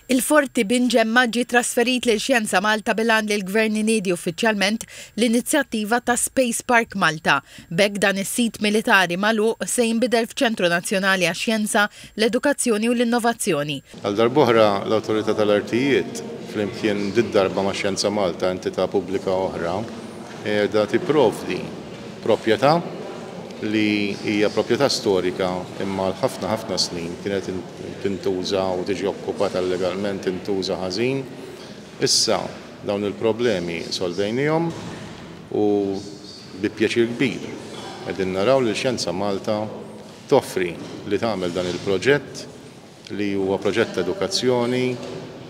Il-Forti bin Gemma ġie trasferit lil Xjenza Malta bil-għan li l-Gvern iniedi uffiċjalment l-inizjattiva ta' Space Park Malta. B'hekk dan is-sit militari magħluq se jinbidel f'ċentru nazzjonali għax-xjenza, l-edukazzjoni u l-innovazzjoni. Għal darb'oħra, l-Awtorità tal-Artijiet, flimkien did-darba ma' Xjenza Malta, entità pubblika oħra, qiegħda tipprovdi proprjetà li hija proprjetà storika imma għal ħafna ħafna snin kienet tintuża u tiġi okkupata illegalment tintuża ħażin. Issa dawn il-problemi solvejniehom u bi pjaċir kbir qegħdin naraw lil Xjenza Malta toffri li tagħmel dan il-proġett li huwa proġett ta' edukazzjoni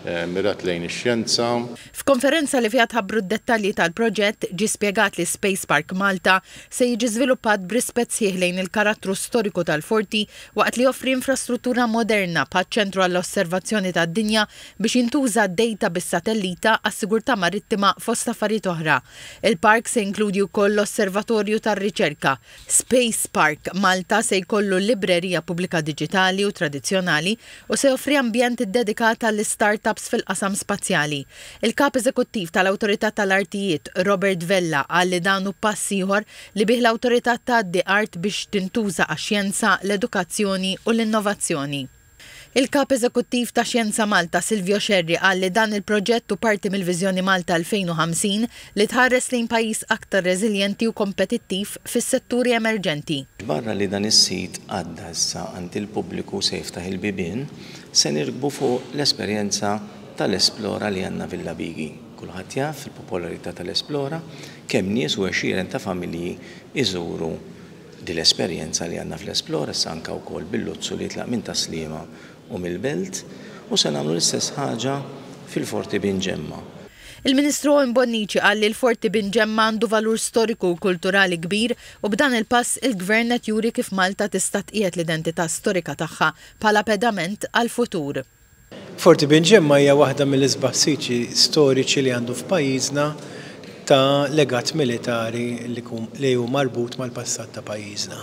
mmirat lejn ix-xjenza. F'konferenza li fiha tħabbru d-dettalji tal-proġett, ġie spjegat li Space Park Malta se jiġi żviluppat b'rispett sħiħ lejn il-karattru storiku tal-Forti waqt li joffri infrastruttura moderna bħaċ-Ċentru għall-Osservazzjoni tad-Dinja biex jintuża d-dejta bis-satellita għas-sigurtà marittima fost affarijiet oħra. Il-park se jinkludi wkoll l-Osservatorju tar-Riċerka. Space Park Malta se jkollu librerija pubblika diġitali u tradizzjonali u se joffri ambjent iddedikat għall-istartups fil-qasam spazjali. Il-Kap Eżekuttiv tal-Awtorità tal-Artijiet, Robert Vella qal li dan hu pass ieħor li bih l-Awtorità tgħaddi art biex tintuża għax-xjenza, l-edukazzjoni u l-innovazzjoni. Il-Kap Eżekuttiv ta' Xjenza Malta, Silvio Scerri qal li dan il-proġett hu parti mill-Viżjoni Malta 2050 li tħares lejn pajjiż aktar reżiljenti u kompetittiv fis-setturi emerġenti. Barra li dan is-sit għadda issa għand il-pubbliku u se jiftaħ il-bibien, se nirkbu fuq l-esperjenza tal-Esplora li għandna Villa Bighi. Kulħadd jaf il-popolarità tal-Esplora, kemm nies u għexieren ta' familji jżuru din l-esperjenza li għandna fl-Esplora, issa anke wkoll bil-Luzzu li jitlaq minn Tas-Sliema u mill-Belt, u se nagħmlu l-istess ħaġa fil-Forti Bin Ġemma. Il-Ministru Owen Bonnici qal li l-Forti Bin Ġemma għandu valur storiku u kulturali kbir u b'dan il-pass il-Gvern qed juri kif Malta tista' tqiegħed l-identità storika tagħha bħala pedament għall-futur. Forti Bin Ġemma hija waħda mill-isbaħ siti storiċi li għandu f'pajjiżna ta' legat militari li hu marbut mal-passat ta' pajjiżna.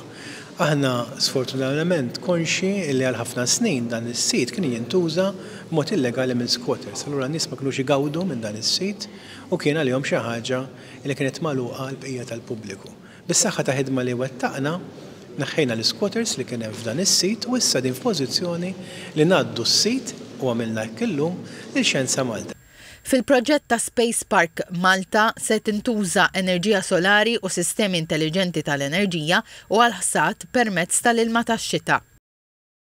Aħna sfortunatament konxji li għal ħafna snin dan is-sit kien jintuża b'mod illegali minn squatters, allura n-nies ma kinux igawdu minn dan is-sit u kien għalihom xi ħaġa li kienet magħluqa għall-bqija tal-pubbliku. Bis-saħħa ta' ħidma li wettaqna, neħħejna l-isquatters li kien hemm f'dan is-sit u issa din f'pożizzjoni li ngħaddu s-sit, u għamilna hekk illum, lil Xjenza Malta. Fil-proġett ta' Space Park Malta se tintuża enerġija solari u sistemi intelliġenti tal-enerġija u għall-ħsad permezz tal-ilma tax-xita.